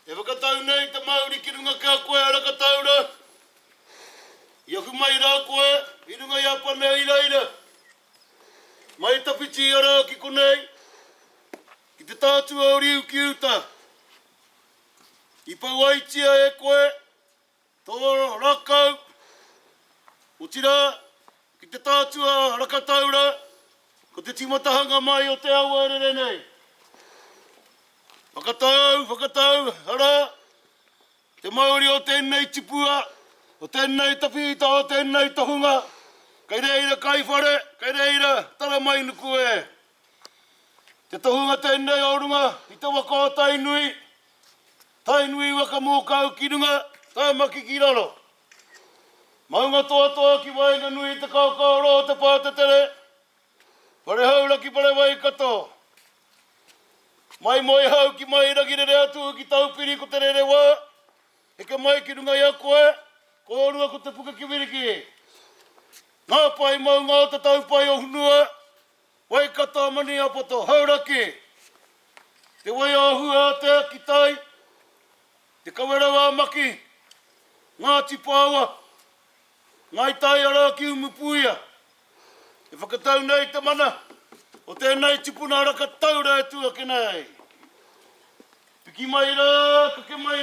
E whakatau nei te mauri ki runga ki a koe a Rakataura, i ahu mai rā koe i runga i a Pane i reira. Mai tawhiti ia rā ki konei, ki te tātua o Riu ki uta. I pauaitia e koe Toro rakau, otirā, ki te tātua rakataura, ko te tīmatahanga mai o te awa rere nei. Whakatau, whakatau, arā, te mauri o tēnei tipua, o tēnei tawhīta, o tēnei tohunga, kei reira kai whare, kei reira tara mai nuku e. Te tohunga tēnei o runga i te waka o Tainui, Tainui waka mōkau ki runga, taimaki ki raro. Maunga toatoa ki waenganui i te kaokao roa o te pātetere, whare haura ki whare Waikato. Mai Moehau ki mai Rangirere atu ki Taupiri ko te rere wā, heke mai ki runga i a koe, kōrua ko te puke kiwiriki. Ngā pae maunga o te taupae o Hunua, Waikato Maniapoto Hauraki Te Waiāhu ā Te Akitai Te Kawerau ā Maki Ngāti Paoa Ngāi Tai Arā ki Umupuia E whakatau nei te mana o tēnei tipuna raka taura e tuakina ai Piki mai rā, kake mai rā.